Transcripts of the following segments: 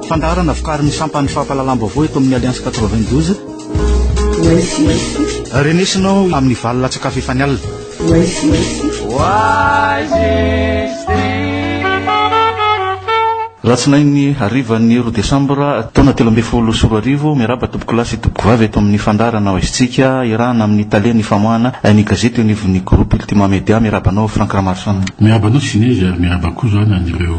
Fandaharana vokarin'ny sampan'ny fampahalalam-baovao eto amin'ny Alliance 92. Renesinao amin'ny valo latsakafo efa ny alina. Oasis. Alatsinainy harivan'ny roa desambra taona telo ambin'ny folo sy roa arivo, miarahaba tompokolahy sy tompokovavy eto amin'ny fandaharana Ho Aizintsika, iarahana amin'ny tale ny famoahana ny gazety eo anivon'ny Groupe Ultima Media. Miarahaba anao Franck Ramarison. Miarahaba anao Sinezy ary miarahaba koa izany an'ireo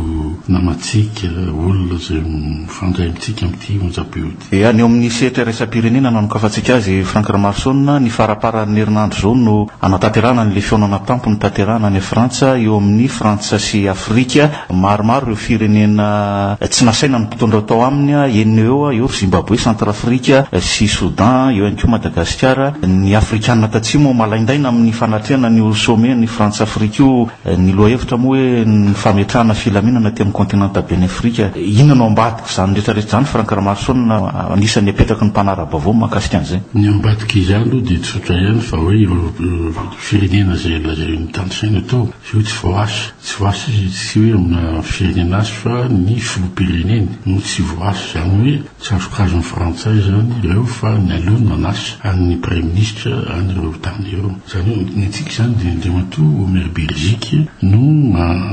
namantsika, olona izay mifandray amintsika amin'ity onjam-peo ity. Dia any eo amin'ny sehatra iraisam-pirenena no hanokafantsika azy, Franck Ramaroson, ny faraparan'ny herinandro izao no hanatanterahana an'ilay fihaonana tampo notanterahana any Frantsa eo amin'ny Frantsa sy Afrika. Maromaro ireo firenena tsy nasaina ny mpitondra ho tao aminy, enina eo eo, eo ry Zimbaboe, Centrafrique sy Soudan, eo ihany koa Madagasikara. Ny Afrikanina Tatsimo malaindaina amin'ny fanatrehana an'io sommet ny Frantsa-Afrika io, ny lohahevitra moa hoe ny fametrahana filaminana aty amin'ny kontinenta ben'ny Afrika. Inona no ambadika? Izany rehetra rehetra izany Franck Ramaroson no anisan'ny apetraky ny mpanara-baovao mahakasika an'izay. Ny ambadika izany aloha dia tsotra ihany fa hoe ireo firenena izay lazain'ny tany saina tao sy hoe tsy voaasa. Tsy voaasa izy io tsy hoe amina firenena hafa fa ny filoham-pireneny no tsy voaasa. Izany hoe tsy azokazon'ny frantsay izany ireo fa ny aleo no hanasa an'ny praiminisitra an'ireo tany ireo. Izany hoe ny antsika izany dia Andriamatoa Omer Birgic no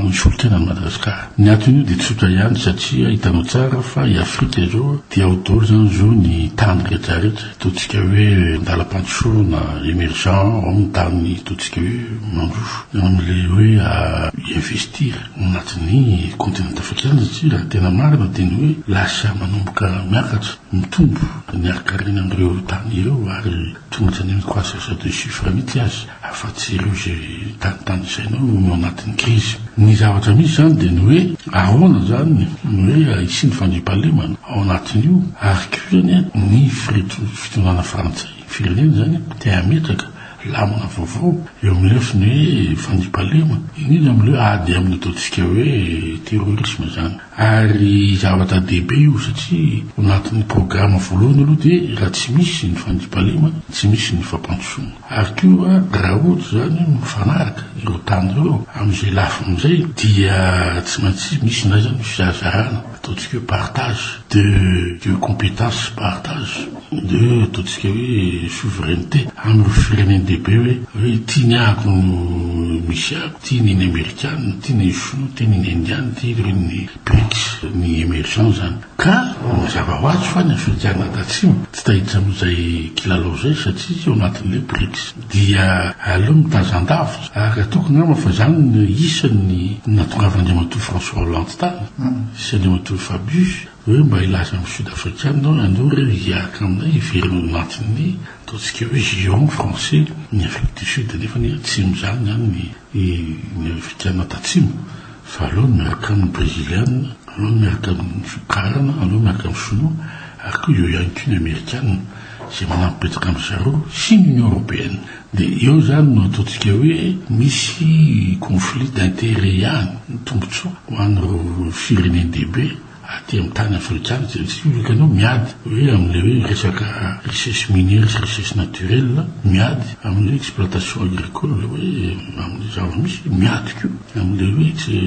misolo tena an'i Madagasikara. Ny antony io dia tsotra ihany satria hitanao tsara fa i Afrika izao dia ao daholo izany zo ny tany rehetra rehetra ataontsika hoe an-dalam-pandrosoana emergent ao ny tany ataontsika hoe mandroso amin'ilay hoe investir ao anatin'ny continent afrikana satria raha tena marina dia ny hoe lasa manomboka miakatra mitombo ny harin-karena amin'ireo tany ireo ary Tsy nojanenako assesseur de chiffres mihitsy aza, afa-tsy ireo izay tany tanisainao no ao anatin'ny krizy. Ny zavatra misy izany dia ny hoe ahoana izany no hoe hisia ny fandriampahalemana ao anatin'io, ary koa izany ny fitondrana frantsay, ny firenena izany te hametraka lamina vaovao eo amin'ny lafiny hoe fandriampahalemana, indrindra amin'ireo ady amin'ny ataontsika hoe terrorisme izany. Ary zavatra dehibe io satria ao anatin'ny programa voalohany aloha dia raha tsy misy ny fandriampahalemana, tsy misy ny fampandrosoana. Ary koa raha ohatra izany hoe mifanaraka ireo tany ireo amin'izay lafiny izay dia tsy maintsy misy indray izany ny fizahazahana, ataontsika hoe partage de de compétence, partage. Dia ataontsika hoe souveraineté amin'ireo firenen-dehibe hoe hoe ity ny ako no misy ako, ity ny ny amerikana, ity ny shinoa, ity ny ny indiana, ity ireo ny brics, ny emergents izany. Ka mazava ho azy fa ny afrikana tatsimo tsy tahiditra amin'izay kilalao izay satria tsy ao anatin'ilay brics. Dia aleo mitazan-davitra ary ataoko angamba fa izany no isan'ny nahatongavandriamatoa François Hollande tany sy andriamatoa Fabius, Hoe mba hilaza amin'ny Sud Afrikana hoe andeo re hiaraka aminay hiverina ao anatin'ny ataontsika hoe giron français ny Afrique du Sud nefa ny atsimo izany izany ny ny Afrikana tatsimo fa aleo miaraka amin'ny Breziliana, aleo miaraka amin'ny Sokarana, aleo miaraka amin'ny Sinoa ary koa eo ihany koa ny Amerikana izay manampy betsaka amin'izareo sy ny Union Européenne. Dia eo izany no ataontsika hoe misy conflit d'intérêt ihany, ny tombontsoa ho an'ireo firenen-dehibe aty amin'ny tany afrikana izay tsy hiolaka an'io miady hoe amin'ilay hoe resaka richesse minière sy richesse naturelle, miady amin'ny hoe exploitation agricole hoe amin'ny zava-misy, miady koa amin'ilay hoe tsy.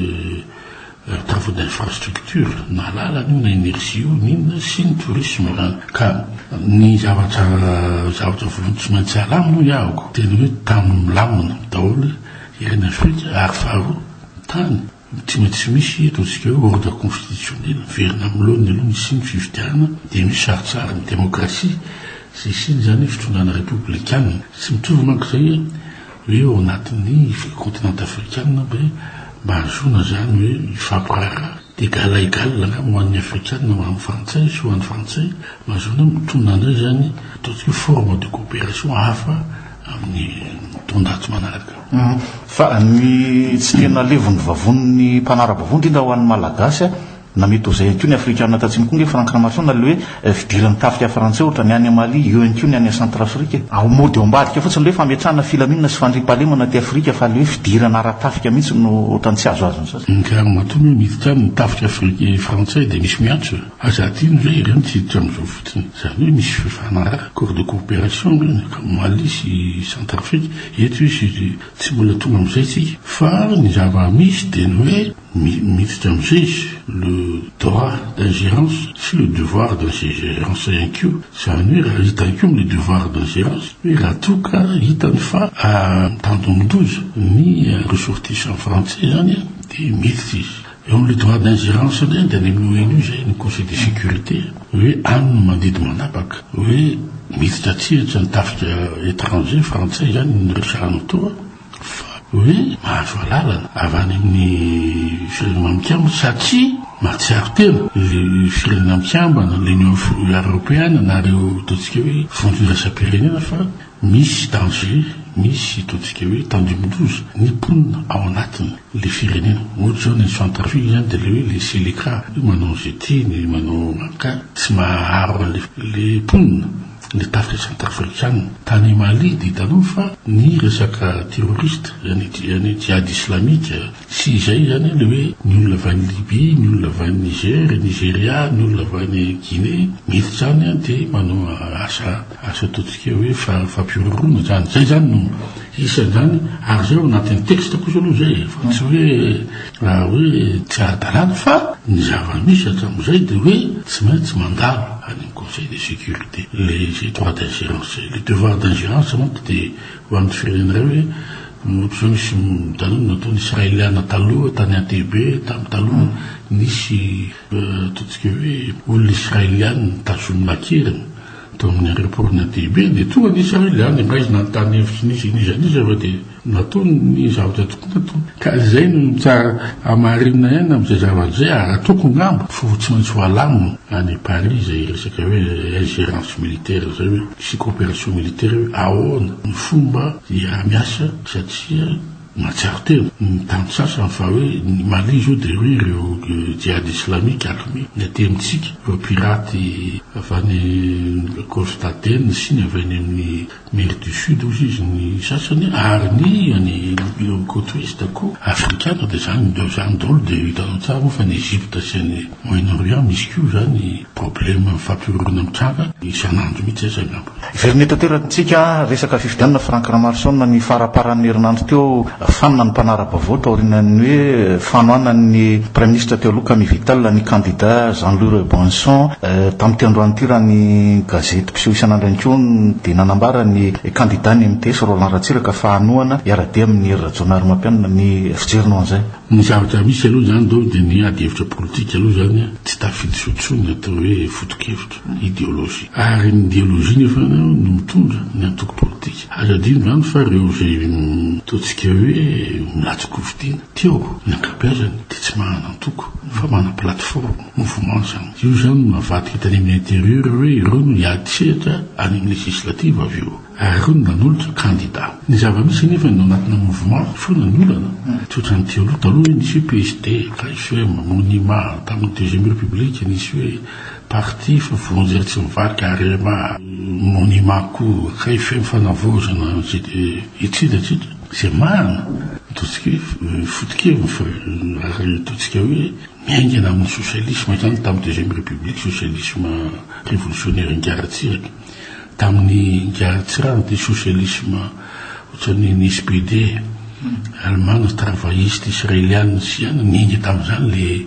Travaux d'infrastructure, na lalana io na energie io na inona, sy ny tourisme zany. Ka ny zavatra zavatra voalohany tsy maintsy alamina hoy ahako dia ny hoe tany milamina daholo ireny afrika ary faharoa tany tsy maintsy misy ataontsika hoe ordre constitutionnel miverina amin'ny laoniny aloha ny hisian'ny fifidianana dia misy sarintsarin'ny demokrasia sy hisian'izany fitondrana repoblikana. Tsy mitovy manko izay hoe ao anatin'ny ve continent afrikanina ve mba hahazoana izany hoe hifampiraharaha d'égal à égal angamba ho an'ny afrikanina ho an'ny frantsay sy ho an'ny frantsay mba hahazoana hoe mitonona indray izany ataontsika hoe forme de coopération hafa amin'ny taon-jato manaraka. Fa ny tsy tena levon'ny vavonin'ny mpanara-bavony indrindra ho an'ny Malagasy. Na mety ho izay ihany koa ny Afrikanina tatsimo koa nge Franck Ramaroson na le hoe fidiran'ny tafika frantsay ohatra ny any Mali eo ihany koa ny any Centrafrique e. Ao mody ao ambadika fotsiny le hoe fametrahana filaminana sy fandriampahalemana aty Afrika fa le hoe fidirana ara-tafika mihitsy no ohatran'ny tsy azo azon'ny sasany. Ny kamo matoa moa miditra aminy tafika Afrika frantsay dia misy miantso e. Aza hadino ve ireo no tsy hiditra amin'izao fotsiny. Izany hoe misy fifanaraha, accord de coopération angah ny kamo Mali sy Centrafrique. Eto izy tsy mbola tonga amin'izay tsika fa ny zava-misy dia ny hoe. Miditra amin'izay izy, le droit d'ingérence sy le devoir d'ingérence ihany koa. Izany hoe raha hitany koa amin'ny devoir d'ingérence hoe raha toa ka hitany fa mitandindoza ny ressortissants frantsay izany dia miditra izy. Eo amin'ilay droit d'ingérence indray dia any amin'ny ONU izay, ny Conseil de sécurité, hoe any no mandidy manapaka hoe miditra an-tsehatra ny tafika étranger, frantsay izany, ny resahanao teo. Fabry mahazo alalana avy any amin'ny firenena mikambana satria mahatsiaro tena ireo firenena mikambana, l'Union Europeana na ireo ataontsika hoe vondro iraisam-pirenena fa misy danger, misy ataontsika hoe tandindoza ny mponina ao anatiny le firenena. Ohatra izao ny Centrafrique izany dia le hoe le Seleka hoe manao izay tiany, manao maka tsy mahaharo an'le mponina. ny tafika Centrafrikanina. Tany Mali dia hitanao fa ny resaka terroriste any any Djihad Islamika sy izay izany le hoe ny olona avy any Libye, ny olona avy any Niger, Nigeria, ny olona avy any Guinée miditra izany de manao asa asa ataontsika hoe fa fampihorohoroana izany. Zay zany no isan izany ary zay ao anatin'ny texte kosa aloha zay e fa tsy hoe raha hoe tsy ara-dalàna fa ny zava-misy hatramin'izay de hoe tsy maintsy mandalo any am-. Conseil de sécurité ilay izy droit d'ingérence zay. Ilay devoir d'ingérence manko dia ho an'ny firenena iray hoe ohatr'izao nisy taloha nataon'ny Israeliana taloha tany Entebbe tamin'ny taloha nisy ataontsika hoe olona Israeliana nitazomina an-keriny tao amin'ny aéroport-n'i Entebbe dia tonga ny Israeliana, maizina ny tany efa tsy nisy an'iza n'iza fa dia. Nataony ny zavatra tokony hatao. Ka izay no tsara hamarinina ihany amin'izay zavatra izay ary ataoko angamba fa ho tsy maintsy ho alamina any Paris izay resaka hoe ingérence militaire izay hoe sy coopération militaire hoe ahoana ny fomba hiara-miasa satria mahatsiaro tena ny tany sasany fa hoe ny Mali izao dia hoe ireo Djihad Islamique armée ny aty amintsika ireo pirates avy any Golfe d'Aden sy ny avy any amin'ny Maire du Sud hozy izy ny sasany ary ny any ireo cote ouest koa afrikana dia zany de zany daholo dia hitanao tsara moa fa ny Egypte sy any Moyen Orient misy koa zany probleme mifampihorongona mitranga isan'andro mihitsy aza angamba. Very nety ateraky tsika resaka fifidianana Franck Ramarison ny faraparan'ny herinandro teo Fanina ny mpanara-baovao taorianan'ny hoe fanohanan'ny Praiminisitra teo aloha Camille Vital ny kandida Jean-Louis Rebonson. Tamin'ity androany ity raha ny gazety mpiseho isan'androny koa dia nanambara ny kandida ny MTS Roland Ratsiraka fa hanohana hiara-dia amin'i Hery Rajaonarimampianina ny fijeriny ho an'izay. Ny zavatra misy aloha izany dolo dia ny ady hevitra politika aloha izany tsy tafiditra eo intsony ny atao hoe foto-kevitra, ideologie. Ary ny ideologie nefa no mitondra ny antoko politika. Ary adino izany fa ireo izay ataontsika hoe milatsi-kofidiana ty ao, ny ankabeazany dia tsy manana antoko fa manana plateforme, mouvement izany. Io izany no navadika tany amin'ny intérieur hoe ireo no hiady sehatra any amin'ny législative avy eo ary ireo no nanolotra candidat. Ny zava-misy anefa ny ao anatina mouvement foana ny olana, tsy ohatran'ity aloha. Taloha hoe nisy hoe PSD, KFM, Monima, tamin'ny deuxième république nisy hoe. Parti fa vonjy etsy ny vaky arema monima koa kay feno fanavaozana etsy de atsy ze marina ataontsika hoe fotokeviny fa raha ny ataontsika hoe miaingana amin'ny socialisme zany tamin'ny deuxième république socialisme révolutionnaire ngaratsiraka tamin'ny ngaratsirano de socialisme ohatran'ny ny SPD alemana travailliste israeliana sy ihany niainga tamin'izany le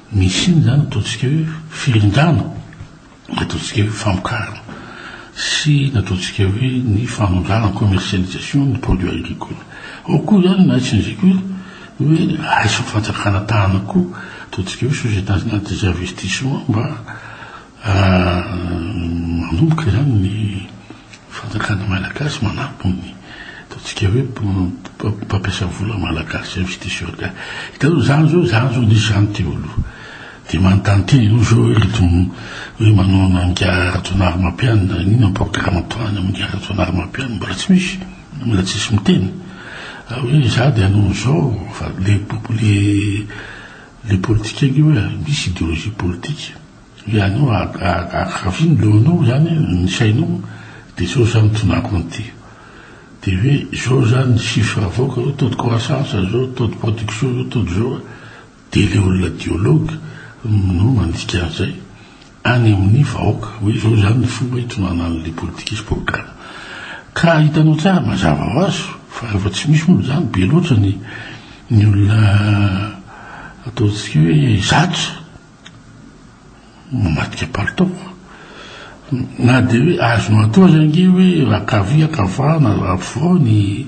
Misy inona izany ataontsika hoe firindrana, na ataontsika hoe famokarana sy na ataontsika hoe ny fanondranana, commercialisation, ny produit agricole. Ao koa izany ny ahitsiny izay koa hoe ahaisin'ny fanjakana tànana koa, ataontsika hoe société nationale des investissements mba Manomboka izany ny fanjakan'ny Malagasy manabo ny ataontsika hoe mpampiasa vola Malagasy, investisseurs ga. Hitanao izany izao, izany izao nisy izany teo aloha. Dia manontany tena ianao izao hoe ireto hoe manao an'Ingahy Rajaonarimampianina, inona ny programme ataony amin'Ingahy Rajaonarimampianina, mbola tsy misy, mbola tsisy miteny. Hoe izaho dia hanao an'izao, fa le le politikan'io hoe misy ideologie politika. Ianao akafin leonao zany ny sainao de zao zany tonako an'ity de hoe zao zany ny chiffre avoaka zao taux de croissance zao taux de production zao taux de zao de le olona diologue no mandika an'zay any amin'ny vahoaka hoe zao zany ny fomba hitonanan'le politika sy programme ka hitanao tsara mazava ho azy fa rehefa tsy misy moa zany be loatra ny ny olona ataontsika hoe zatra Mamadika palitao. Na dia hoe azonao atao aza ange hoe ankavia ankavah na ampovoany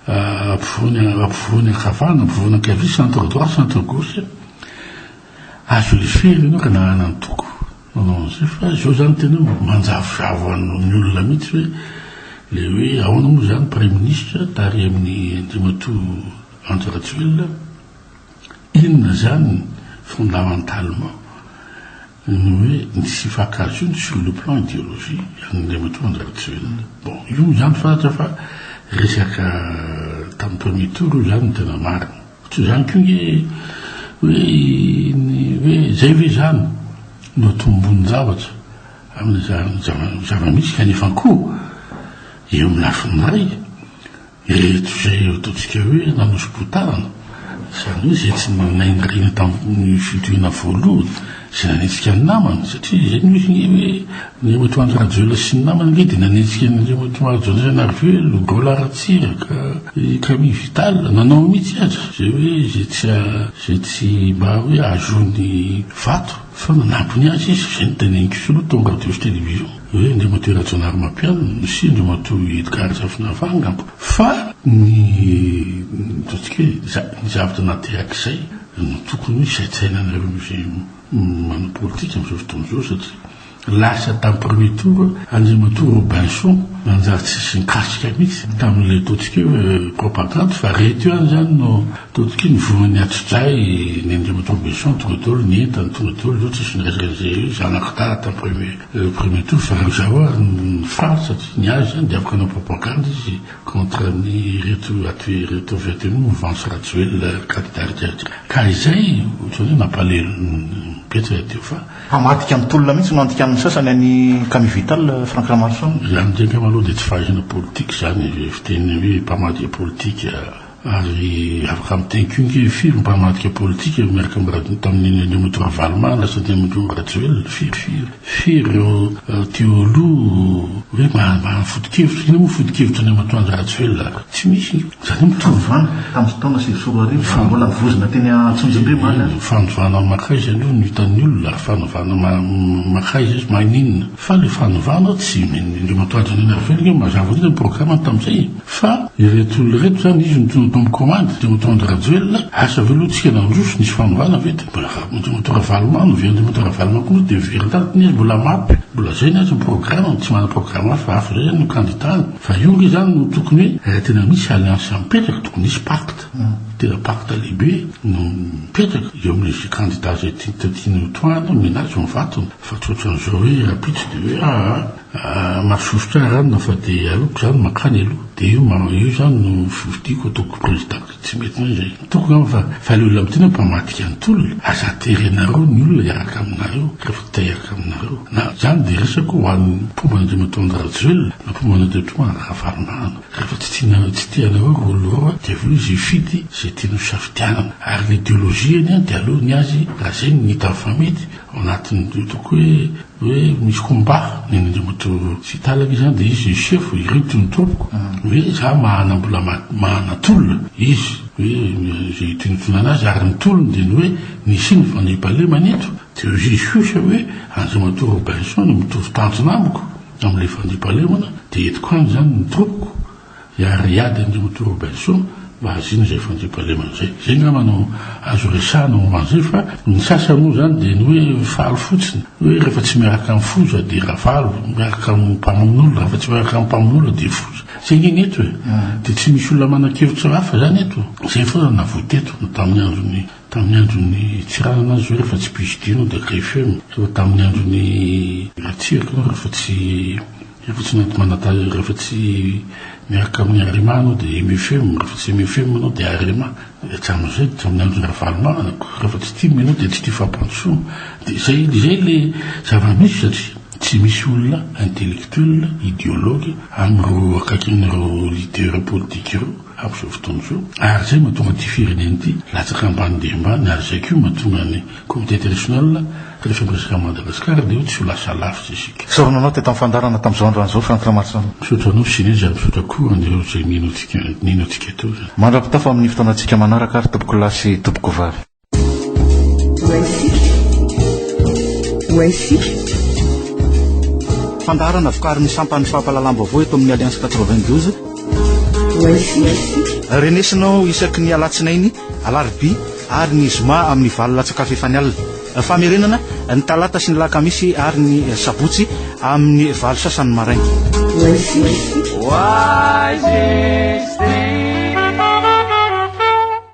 ampovoany ankavah na ampovoany ankavia, centre droit, centre gauche, azo leferina ianao ka nahana antoko nanao an'izay fa izao izany tena manjavozavo an'ny olona mihitsy hoe ilay hoe ahoana moa izany praiminisitra tary amin'ny Andriamatoa Andry Rajoelina. Inona izany ny fondamentalement ny hoe ny tsy hifankahazoana sur le plan ideologie an'Andriamatoa Andry Rajoelina. Bon, io izany fantatra fa resaka tamin'ny premier tour io izany no tena marina. Fa tsy izany koa nge hoe ny hoe izay ve izany no atombon-javatra amin'ny zava-misy kanefa koa eo amin'ny lafiny iray Ireto izay eo ataontsika hoe nanoso-potahana, izany hoe izay tsy nainariana tamin'ny fitoriana voalohany, izay nanenjika ny namany, satria izay no misy ny hoe ny Matoanjo Rajoelina sy ny namany ange dia nanenjika an'ireo Matoanjo Anjanarivelo, Gaola Ratsiraka, i Camille Vital, nanao mihitsy aza izay hoe izay tsy izay tsy mba hoe ahazoany vato fa nanampy ny azy izy, izay no tenenin'i Kisolo tao radio sy television. hoe Andriamatoa Rajaonary Mapiano sy Andriamatoa Edgard Razafinavà angamba, fa ny ataontsika hoe ny zavatra naterak'izay no tokony hoe saintsainanareo izay manao politika amin'izao fotoana izao satria lasa tamin'ny premier tour Andriamatoa Robinson nanjary tsisy nikasika mihitsy tamin'ilay ataontsika hoe propagandy fa reto ihany izany no ataontsika hoe nivoran'ny hatso-dray ny Andriamatoa Robinson tonga daholo ny entany tonga daholo izao tsisy niraisarizay eo zanak'i Dada tamin'ny premier Le premier tour fa rajao ary ny faly satria ny azy zany dia afaka hanao propagande izy contre ny ireto aty ireto avy aty amin'ny mouvance rajoelina candidat ry jerika ry ka izay ohatrany hoe mampalelo ny mpietry raha teo fa Hamadika ny tolona mihitsy no andikan'ny sasany an'i Camille Vital, Franck Ramarison. Ny an'ny Jenkamaloha dia tsy fahaizana politika izany, fiteny hoe mpamadika politika. Ary afaka miteny koa nge firy mpamadika politika miaraka am radony tamin'ny Nenitoa Ravalomanana sy Nenitoa Rajoelina, firy firy, firy ireo teoloha hoe maha fotokevitra, inona moa fotokevitra an'i Amatoandro Rajoelina ary? Tsy misy e! Izany hoe mitovy vava tamin'ny taona sivy sy roa arivo fa mbola mivozona teny Antsonjombe maly aza. Fanovana makaiza anie no hitan'ny olona ary fanovana makaiza izy maninona? Fa le fanovana tsy indreo matoaja an'iny avy eo, mazava fotsiny ny programme-ny tamin'izay e! Fa ireto olona ireto zany izy no tena tombo commande, de Moto Andry Rajoelina, asa ve aloha tsika nandroso, nisy fanovana ve? De mbola Andry Moto Ravaloman, ve Andry Moto Ravaloman koa moa de very tany, tena izy mbola mapy, mbola zay ny azy ny programme-ny, tsy manana programme hafa, hafa zay zany no candidat-ny. Fa io nge zany no tokony hoe raha tena misy alliance mipetraka, tokony hisy pacte, tena pacte lehibe no mipetraka eo amin'le candidat zay tiany ho toahana, mena azy ho vatony. Fa tsy ohatran'izao hoe rahampitso dia hoe aa masosotra ahy ranona fa dia aleoko izany mankany aloha dia io ma io izany no fifidiako ataoko président dia tsy mety izay. Hitako angamba fa fa ilay olona midina mpamadika ny tolona. Aza aterianareo ny olona hiaraka aminareo rehefa te hiaraka aminareo. Na izany dia resako ho an'ny mpomba an'Andriamatoa Andry Rajoelina na mpomba an'Andriamatoa Andry Ravalomanana. Rehefa tsy tianareo tsy te anareo ireo olona ireo dia avy eo izy hifidy izay tiany hosafidianana. Ary ny ideologie-ny dia aleony azy raha izay no hitany fa mety. Ao anatin'ny didiko hoe hoe misy combat neny Andriamatoa Sitala ve zany de izy le chef hoe ireto no tompoko hoe za mahana mbola mahana tolona izy hoe ze itonontonana azy ary ny tolony de ny hoe nisy iny fandriampahalemana eto de au juge juge hoe Andriamatoa Robinson mitovy tanjona amiko amle fandriampahalemana de entiko any zany ny tompoko Hiariady an'i Route Robinson mba hahaziana izay fandriampahalemana izay. Izay ngamba no azo resahana momba an'izay fa ny sasany moa izany dia ny hoe faly fotsiny hoe rehefa tsy miaraka amin'ny foza dia ravalo, miaraka amin'ny mpamono'olona rehefa tsy miaraka amin'ny mpamono'olona dia foza. Izay nge ny eto e! Dia tsy misy olona manan-kevitra hafa izany eto. Izay foana no navoa teto na tamin'ny andron'ny tamin'ny andron'ny Tsiranana aza izao rehefa tsy Buge Dino dia Greffieux, rehefa tamin'ny andron'ny Ratsiraka izao rehefa tsy Rehefa tsy mety manadala, rehefa tsy miaraka amin'ny Arema anao dia MFM, rehefa tsy MFM anao dia Arema, dia hatramin'izay dia tsy amin'ny andron'i Ravalomanana koa, rehefa tsy tim ianao dia tsy tia fampandrosoana, dia izay izay ilay zava-misy satria tsy misy olona intellectuel, ideologue amin'ireo akaikin'ireo leader politique ireo amin'izao fotoana izao ary izay mahatonga ity firenena ity latsaka ambany dia ambany ary izay koa mahatonga ny Comité international rehefa miresaka an'i Madagascar dia tsy ho lasa lavitra isika. Misaotra anao teto amin'ny fandaharana tamin'izao androan'izao Franck Ramaroson. Misaotra anao sy Rija, misaotra koa an'ireo izay nino antsika nino antsika teo. Mandra-pitafa amin'ny fotoanantsika manaraka ary tompokolahy sy tompokovavy. Ho haisika, ho haisika. Fandaharana vokarin'ny sampan'ny fampahalalam-baovao eto amin'ny Alliance quatre-vingt-douze. Ho haisika. Renesinao isaky ny alatsinainy, alarobia. ary ny zoma amin'ny valo latsa-kafa efa ny alina. Famerenana, ny talata sy ny lakamisy ary ny sabotsy amin'ny valo sasany maraina. Why